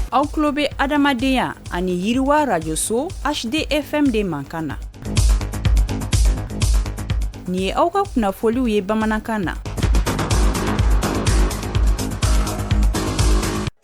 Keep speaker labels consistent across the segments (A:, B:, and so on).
A: aw tulo bɛ adamadenya ani yiriwa rajoso hdfm de mankan na nin ye aw ka kunnafoliw ye bamanankan na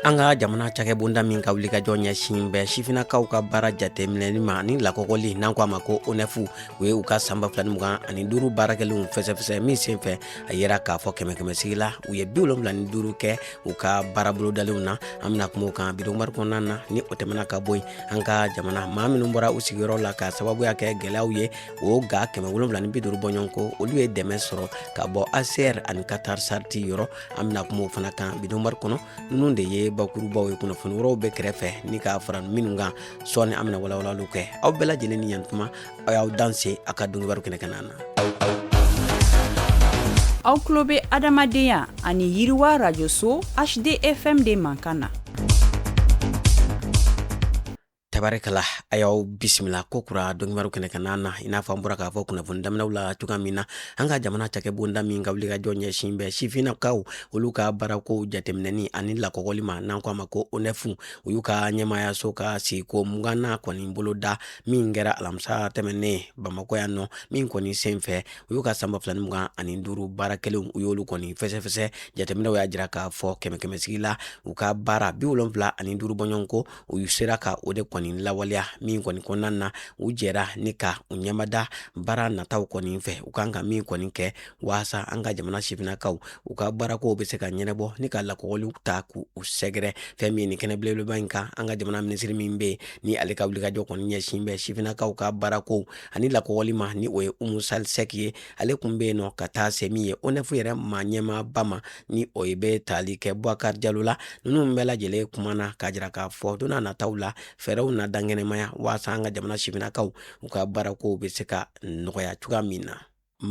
B: an ka jamana cakɛbonda min ka wuli ka jɔ ɲɛsin bɛ sifinakaw ka baara jateminɛli ma ani lakɔgɔli n'an ko a ma ko onɛfu u ye u ka san ba fila ni mugan ani duuru baarakɛlenw fɛsɛfɛsɛ min senfɛ a yera k'a fɔ kɛmɛ kɛmɛsigi la u ye bi wolonwula ni duuru kɛ u ka baarabolodalenw na an bɛna kuma o kan donkibaru kɔnɔna na ni o tɛmɛna ka bɔ yen an ka jamana maa minnu bɔra u sigiyɔrɔ la ka sababuya kɛ gɛlɛyaw ye o ga kɛmɛ wolonwula ni bi duuru bɔɲɔgɔn ko olu ye dɛmɛ sɔrɔ ka bɔ hcr ani qatar charity yɔrɔ an bɛna kuma o fana kan donkibaru kɔnɔ ninnu de ye bakurubaw ye kunnafoni wɛrɛw bɛ kɛrɛfɛ ni ka fara minnu kan sɔɔni an bɛna walawalali kɛ aw bɛɛ lajɛlen ni yantuma aw y'aw danse aw ka donkibaru kɛnɛ kanna
A: na aw tulo bɛ adamadenya ani yiriwa rajoso hdfm de mankan na
B: tabarikala an y'aw bisimila kokura donkibaru kɛnɛ kanna na i n'a fɔ an bɔra k'a fɔ kunnafoni daminɛw la cogoya min na an ka jamana cakɛbonda min ka wuli ka jɔ ɲɛsin bɛ sifinnakaw olu ka baarakow jateminɛni ani lakɔgɔli ma n'an ko a ma ko onɛfu u y'u ka ɲɛmayaso ka sigiko mugannan kɔni boloda min kɛra alamisa tɛmɛnen bamakɔ yan nɔ min kɔni sen fɛ u y'u ka san ba fila ni mugan ani duuru baarakɛlenw u y'olu kɔni fɛsɛfɛsɛ jateminɛw y'a jira k'a fɔ kɛmɛ kɛmɛsigi la u ka baara bi wolonfila ani duuru bɔɲɔgɔn ko u sera ka o de kɔni lawaleya min kɔni kɔnɔna na u jɛra ni ka u ɲɛmada baara nataw kɔni fɛ u kan ka min kɔni kɛ walasa an ka jamana sifinnakaw u ka baarakow bɛ se ka ɲɛnabɔ ni ka lakɔgɔliw ta k'u sɛgɛrɛ fɛn min ni kɛnɛ belebeleba in kan an ka jamana minisiri min bɛ ni ale ka wulikajɔ kɔni ɲɛsin bɛ sifinnakaw ka baarakow ani lakɔgɔli ma ni o ye umu sali sɛki ye ale kun bɛ yen nɔ ka taa se min ye onɛfu yɛrɛ ma ɲɛmaaba ma ni o ye bɛ tali kɛ bubakari jalo la ninnu bɛɛ lajɛlen kumana k'a jira k'a fɔ don nataw la fɛɛrɛw na dankɛnɛmaya walasa an ka jamana sifinnakaw u ka baarakow bɛ se ka nɔgɔya cogoya min na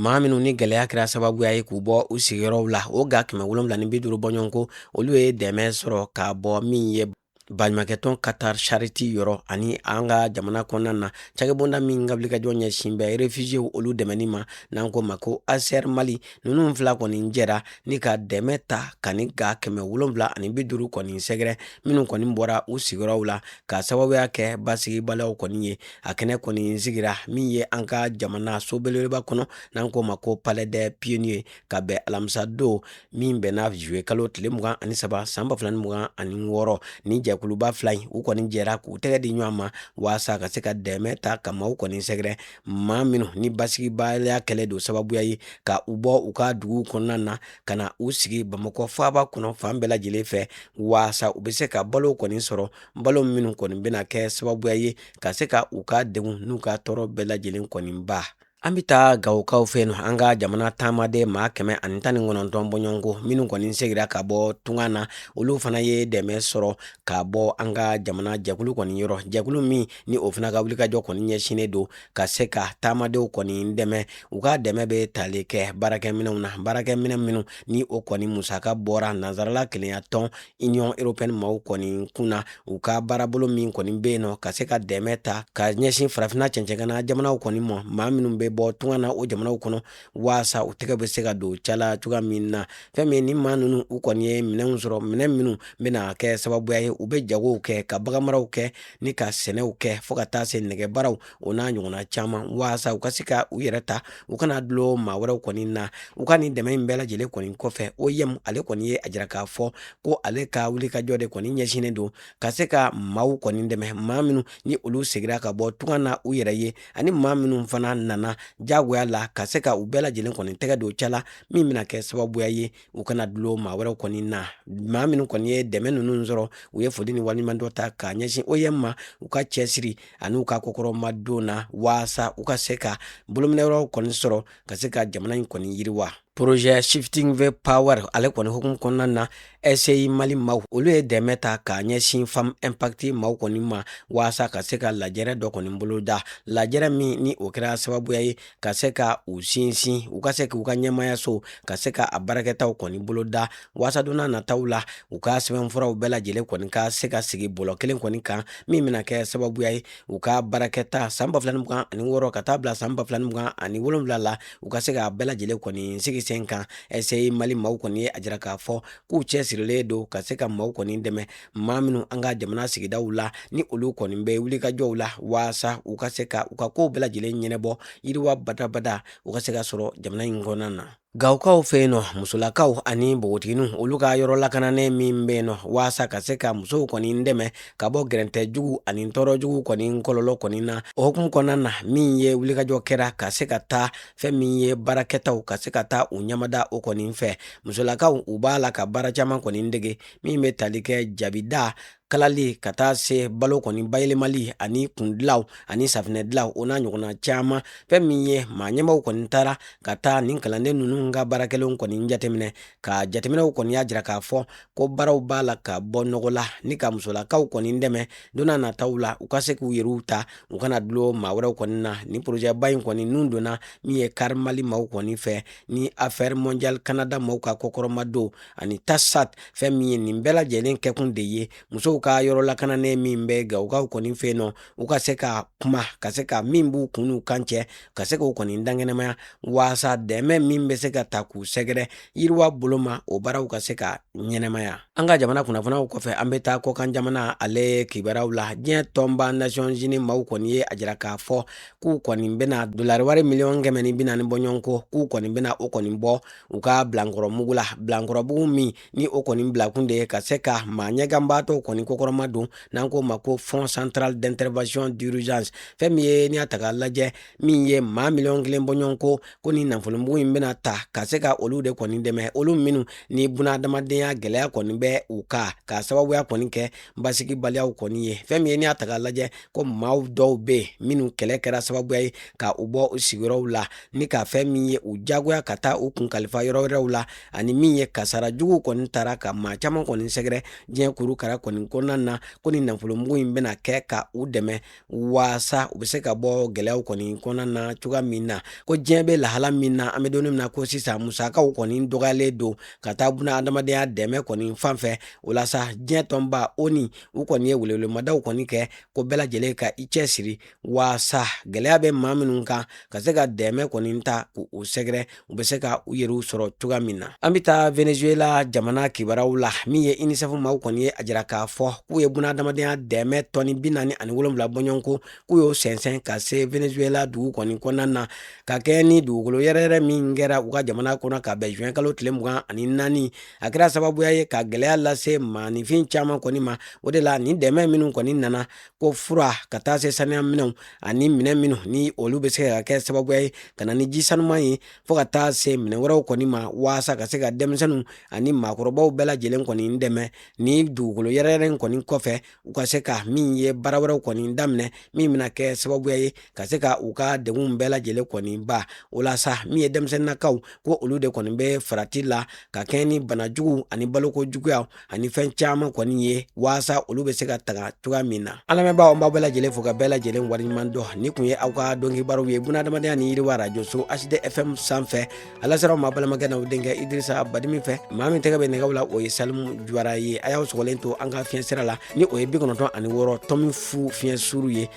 B: maa minnu ni gɛlɛya kɛra sababuya ye k'u bɔ u sigiyɔrɔw la o ga kɛmɛ wolonwula ni bi duuru bɔɲɔgɔn ko olu ye dɛmɛ sɔrɔ ka bɔ min ye baɲumankɛtɔn qatar charity yɔrɔ ani an ka jamana kɔnɔna na cakɛbonda min ka wulikajɔ ɲɛsin bɛ refusiyew olu dɛmɛni ma n'an ko a ma ko hcr mali ninnu fila kɔni jɛra ni ka dɛmɛ ta ka nin ga kɛmɛ wolonwula ani bi duuru kɔni sɛgɛrɛ minnu kɔni bɔra u sigiyɔrɔw la ka sababuya kɛ basigibaliyaw kɔni ye a kɛnɛ kɔni sigira min ye an ka jamana so belebeleba kɔnɔ n'an k'o ma ko palais des pionniers ka bɛn alamisa don min bɛnna juillet kalo tile mugan ani saba san ba fila ni mugan ani wɔɔrɔ ni jɛkuluba fila in u kɔni jɛra k'u tɛgɛ di ɲɔgɔn ma waasa ka se ka dɛmɛ ta ka maaw kɔni sɛgɛrɛ maa minnu ni basigibaliya kɛlɛ don sababuya ye ka u bɔ u ka dugu kɔnɔna na ka na u sigi bamakɔ faaba kɔnɔ fan bɛɛ lajɛlen fɛ waasa u bɛ se ka balo kɔni sɔrɔ balo minnu kɔni bɛna kɛ sababuya ye ka se ka u ka degun n'u ka tɔɔrɔ bɛɛ lajɛlen kɔni ban an bɛ taa gawokaw fɛ yen nɔ an ka jamana taamaden maa kɛmɛ ani tan ni kɔnɔntɔn bɔɲɔgɔnko minnu kɔni segira ka bɔ tunga na olu fana ye dɛmɛ sɔrɔ ka bɔ an ka jamana jɛkulu kɔni yɔrɔ jɛkulu min ni o fana ka wulikajɔ kɔni ɲɛsinnen don ka se ka taamadenw kɔni dɛmɛ u ka dɛmɛ bɛ tali kɛ baarakɛminɛnw na baarakɛminɛn minnu ni o kɔni musaka bɔra nansarala kelenya tɔn union européenne maaw kɔni kun na u ka baarabolo min kɔni bɛ yen nɔ ka se ka dɛmɛ ta ka ɲɛsin farafina cɛncɛngana jamanaw kɔni ma maa minnu bɛ bɔ tunga na o jamanaw kɔnɔ waasa u tɛgɛ bɛ se ka don ca la cogoya min na fɛn min ni maa ninnu u kɔni ye minɛnw sɔrɔ minɛn minnu bɛna kɛ sababuya ye u bɛ jagow kɛ ka baganmaraw kɛ ni ka sɛnɛw kɛ fɔɔ ka taa se nɛgɛbaaraw o n'a ɲɔgɔnna caman waasa u ka se ka u yɛrɛ ta u kana dulon maa wɛrɛw kɔni na u ka nin dɛmɛ in bɛɛ lajɛlen kɔni kɔfɛ OIM ale kɔni ye a jira k'a fɔ ko ale ka wulikajɔ de kɔni ɲɛsinnen don ka se ka maaw kɔni dɛmɛ maa minnu ni olu segira ka bɔ tunga na u yɛrɛ ye ani maa minnu fana nana jagoya la ka se ka u bɛɛ lajɛlen kɔni tɛgɛ don ca la min bɛna kɛ sababuya ye u kana dulon maa wɛrɛw kɔni na maa minnu kɔni ye dɛmɛ ninnu sɔrɔ u ye foli ni waliɲumandɔn ta k'a ɲɛsin OIM ma u ka cɛsiri ani u ka kɔkɔrɔmadon na waasa u ka se ka bolominɛyɔrɔw kɔni sɔrɔ ka se ka jamana in kɔni yiriwa projet shifting the power ale kɔni hukumu kɔnɔna na SCI mali maaw olu ye dɛmɛ ta k'a ɲɛsin femme impact maaw kɔni ma waasa ka se ka lajɛrɛ dɔ kɔni boloda lajɛrɛ min ni o kɛra sababuya ye ka se ka u sinsin u ka se k'u ka ɲɛmayaso ka se ka a baarakɛtaw kɔni boloda waasa don nataw la u ka sɛbɛnfuraw bɛɛ lajɛlen kɔni ka se ka sigi bɔlɔ kelen kɔni kan min bɛna kɛ sababuya ye u ka baarakɛta san ba fila ni mugan ani wɔɔrɔ ka taa bila san ba fila ni mugan ani wolonwula la u ka se ka bɛɛ lajɛlen kɔni sigi sen kan SCI mali maaw kɔni ye a jira k'a fɔ k'u cɛsirilen don ka se ka maaw kɔni dɛmɛ maa minnu an ka jamana sigidaw la ni olu kɔni bɛ wulikajɔw la waasa u ka se ka u ka kow bɛɛ lajɛlen ɲɛnɛbɔ yiriwa badabada u ka se ka sɔrɔ jamana in kɔnɔna na gawokaw fɛ yen nɔ musolakaw ani npogotigininw olu ka yɔrɔ lakananen min bɛ yen nɔ waasa ka se ka musow kɔni dɛmɛ ka bɔ gɛrɛntɛ jugu ani tɔɔrɔ jugu kɔni kɔlɔlɔ kɔni na o hukumu kɔnɔna na min ye wulikajɔ kɛra ka se ka taa fɛn min ye baarakɛtaw ka se ka taa u ɲamada o kɔni fɛ musolakaw u b'a la ka baara caman kɔni dege min bɛ tali kɛ jabida kalali ka taa se balo kɔni bayɛlɛmali ani kundilaw ani safinɛ dilaw o n'a ɲɔgɔnna caman fɛn min ye maa ɲɛmaaw kɔni taara ka taa nin kalanden ninnu ka baarakɛlenw kɔni jateminɛ ka jateminɛw kɔni y'a jira k'a fɔ ko baaraw b'a la ka bɔ nɔgɔ la ni ka musolakaw kɔni dɛmɛ don n'a nataw la u ka se k'u yɛrɛw ta u kana dulon maa wɛrɛw kɔni na nin porozɛba in kɔni nun donna min ye care mali maaw kɔni fɛ ni affaires mondiales kanada maaw ka kɔkɔrɔma don ani tassaght fɛn min ye nin bɛɛ lajɛlen kɛkun de ye musow ka yɔrɔ lakananen min bɛ gawukaw kɔni fɛ yen nɔ u ka se ka kuma ka se ka min b'u kun n'u kan cɛ ka se k'o kɔni dankɛnɛmaya waasa dɛmɛ min bɛ se ka taa k'u sɛgɛrɛ yiriwa bolo ma o baaraw ka se ka ɲɛnɛmaya an ka jamana kunnafoniw kɔfɛ an bɛ taa kɔkan jamana ale kibaruyaw la diɲɛ tɔnba nations unies maaw kɔni ye a jira k'a fɔ k'u kɔni bɛna dolari wari miliyɔn kɛmɛ ni bi naani bɔɲɔgɔnko k'u kɔni bɛna o kɔni bɔ u ka bilankɔrɔmugu la bilankɔrɔmugu min ni o kɔni bilakun de ye ka se ka maa ɲɛganbaatɔw kɔni kɔkɔrɔma don n'an k'o ma ko fonds central d'intervention d'urgence fɛn min ye n'i y'a ta k'a lajɛ min ye maa miliyɔn kelen bɔɲɔgɔnko ko nin nafolomugu in bɛna ta ka se ka olu de kɔni dɛmɛ olu minnu ni buna adamadenya gɛlɛya kɔni bɛ u kan ka sababuya kɔni kɛ basigibaliyaw kɔni ye fɛn min ye n'i y'a ta k'a lajɛ ko maaw dɔw bɛ yen minnu kɛlɛ kɛra sababuya ye ka u bɔ u sigiyɔrɔw la ni ka fɛn min ye u jagoya ka taa u kun kalifa yɔrɔ wɛrɛw la ani min ye kasara jugu kɔni taara ka maa caman kɔni sɛgɛrɛ diɲɛ kurukara kɔni kɔnɔna na ko nin nafolomugu in bɛna kɛ ka u dɛmɛ waasa u bɛ se ka bɔ gɛlɛyaw kɔni kɔnɔna na cogoya min na ko diɲɛ bɛ lahala min na an bɛ don min na ko sisan musakaw kɔni dɔgɔyalen don ka taa buna adamadenya dɛmɛ kɔni fan fɛ o la sa diɲɛ tɔnba onu u kɔni ye welewelemadaw kɔni kɛ ko bɛɛ lajɛlen ka i cɛsiri waasa gɛlɛya bɛ maa minnu kan ka se ka dɛmɛ kɔni taa k'u sɛgɛrɛ u bɛ se ka u yɛrɛw sɔrɔ cogoya min na an bɛ taa venezuela jamana kibaruyaw la min ye unicef maaw kɔni ye a jira k'a fɔ k'u ye buna adamadenya dɛmɛ tɔni bi naani ani wolonwula bɔɲɔgɔnko k'u y'o sɛnsɛn ka se venezuela dugu kɔni kɔnɔna na ka kɛɲɛ ni dugukolo yɛrɛyɛrɛ min kɛra u ka jamana kɔnɔ ka bɛn zuwɛn kalo tile mugan ani naani a kɛra sababuya ye ka gɛlɛya lase maaninfin caman kɔni ma o de la nin dɛmɛ minnu kɔni nana ko fura ka taa se saniya minɛnw ani minɛn minnu ni olu bɛ se ka kɛ sababuya ye ka na ni ji sanuman ye fo ka taa se minɛn wɛrɛw kɔni ma waasa ka se ka denmisɛnninw ani maakɔrɔbaw bɛɛ lajɛlen kɔni dɛmɛ nin dugukolo yɛrɛyɛrɛ in kɔni kɔfɛ u ka se ka min ye baara wɛrɛw kɔni daminɛ min bɛna kɛ sababuya ye ka se ka u ka degunw bɛɛ lajɛlen kɔni ban o la sa min ye denmisɛnninnakaw ko olu de kɔni bɛ farati la ka kɛɲɛ ni bana juguw ani baloko juguyaw ani fɛn caman kɔni ye waasa olu bɛ se ka tanga cogoya min na an lamɛnbaaw an b'aw bɛɛ lajɛlen fo ka bɛɛ lajɛlen waleɲuman dɔn nin kun ye aw ka don kibaruw ye bunadamadenya ni yiriwa arajoso hd fm sanfɛ a lasera aw ma balimakɛ n'aw denkɛ idirisa badimi fɛ maa min tɛgɛ bɛ nɛgɛw la o ye salimu juwara ye a y'aw sɔgɔlen to an ka fiɲɛ sira la ni o ye bi kɔnɔntɔn ani wɔɔrɔ tomi fu fiɲɛ suru ye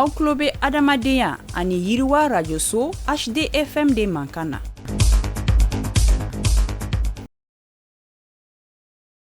A: aw tulo bɛ adamadenya ani yiriwa arajoso hd fm de mankan na